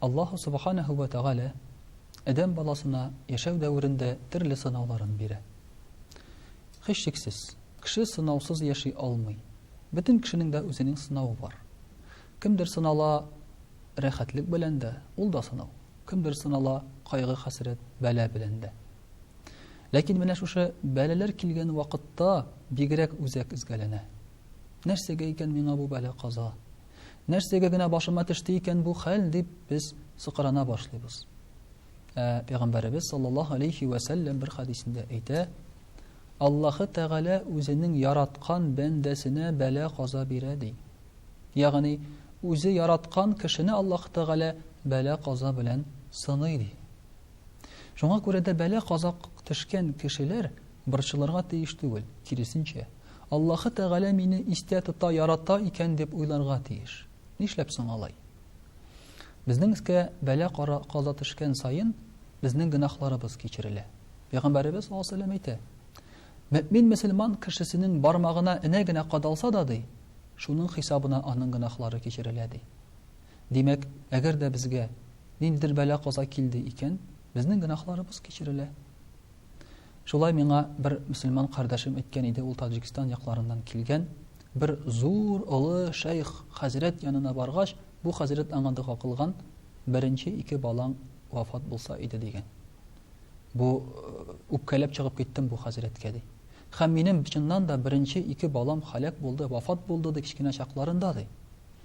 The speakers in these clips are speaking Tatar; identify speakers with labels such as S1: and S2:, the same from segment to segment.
S1: Аллаһу субханаһу ва тәгалә адәм баласына яшәү дәверендә төрле сынауларын бирә. Хишчексез, кеше сынаусыз яши алмый. Бөтен кешенең дә үзенең сынавы бар. Кемдер сынала рәхәтлек белән дә, ул да сынау. Кемдер сынала кайгы, хәсрәт, бәла белән дә. Ләкин менә шушы бәләләр килгән вакытта бигрәк үзәк изгәләнә. Нәрсәгә икән миңа бу бәла каза? Нәрсәгә генә башыма төште икән бу хәл дип без сыкрана башлыйбыз. Ә пәйгамбәребез саллаллаһу алейхи ва сәлләм бер хадисендә әйтә, Аллаһы Тәгалә үзенең яраткан бәндәсенә бәла каза бирә ди. Ягъни үзе яраткан кешене Аллаһ Тәгалә бәла каза белән сыный ди. Шуңа күрә дә бәла казак төшкән кешеләр Борчылырга тиеш түгел, киресенчә, Аллаһы Тәгалә мине истә тота, ярата икән дип уйларга тиеш. Нишләп соң алай? Безнең өскә бәла-кара каза төшкән саен, безнең гөнаһларыбыз кичерелә. Пәйгамбәребез саллаллаһу алейһи әйтә, Мөэмин мөселман кешесенең бармагына энә генә кадалса да, ди, шуның хисабына аның гөнаһлары кичерелә, ди. Димәк, әгәр дә безгә ниндидер бәла-каза килде икән, безнең гөнаһларыбыз кичерелә. Шулай миңа бер мөселман кардәшем әйткән иде, ул Таҗикстан якларыннан килгән, бер зур олы шәйх хәзрәт янына баргач, бу хәзрәт аңа дога кылган, беренче ике балаң вафат булса иде дигән. Бу э, үпкәләп чыгып киттем бу хәзрәткә ди. Хәм минем чыннан да беренче ике балам халәк булды, вафат булды ди кечкенә чакларында ди.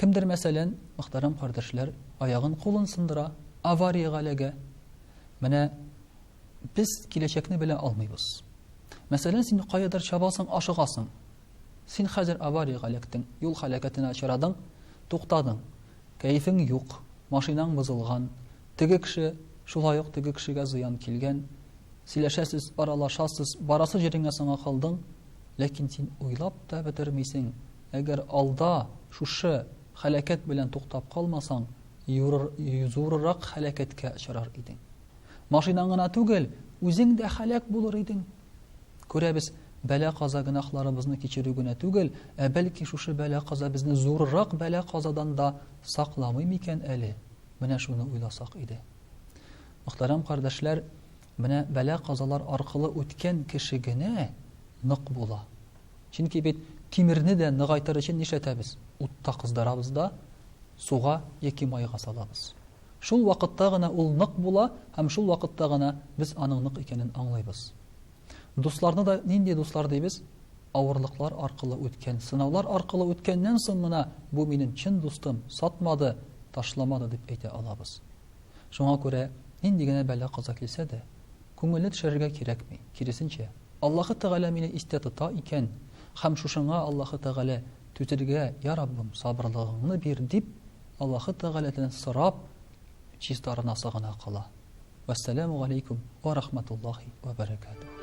S1: Кемдер, мәсәлән, мөхтәрәм кардәшләр, аягын, кулын сындыра, авариягә эләгә. Менә без киләчәкне белә алмыйбыз. Мәсәлән, син каядыр чабасың, ашыгасың. Син хәзер авариягә эләктең, юл халәкәтенә очрадың, туктадың. Кәефең юк, машинаң бозылган, теге кеше, шулай ук теге кешегә зыян килгән. Сөйләшәсез, аралашасыз, барасы җиреңә соңа калдың, ләкин син уйлап та бетермисең, Әгәр алда шушы һәлакәт белән туктап калмасаң, юрыр, зурырак һәлакәткә очрар идең. Машинаң гына түгел, үзең дә һәлак булыр идең. Күрәбез, бәла-каза гөнаһларыбызны кичерү генә түгел, ә бәлки шушы бәла-каза безне зурырак бәла-казадан да сакламый микән әле? Менә шуны уйласак иде. Мөхтәрәм кардәшләр, Менә бәла-казалар аркылы үткән кеше генә нык була. Чөнки бит тимерне дә ныгайтыр өчен нишләтәбез? Утта кыздырабыз да, суга яки майга салабыз. Шул вакытта гына ул нык була һәм шул вакытта гына без аның нык икәнен аңлыйбыз. Дусларны да нинди дуслар дибез? Авырлыклар аркылы үткән, сынаулар аркылы үткәннән соң гына бу минем чын дустым, сатмады, ташламады дип әйтә алабыз. Шуңа күрә, нинди генә бәла-каза килсә дә, күңелне төшерергә кирәкми, киресенчә, Аллаһы Тәгалә мине истә тота икән һәм шушыңа Аллаһы Тәгалә түзергә, йа Раббым, сабырлыгыңны бир, дип, Аллаһы Тәгаләдән сорап, чистарынасы гына кала. Вәссәламү галәйкүм вә рахмәтуллаһи вә бәрәкәтүһ.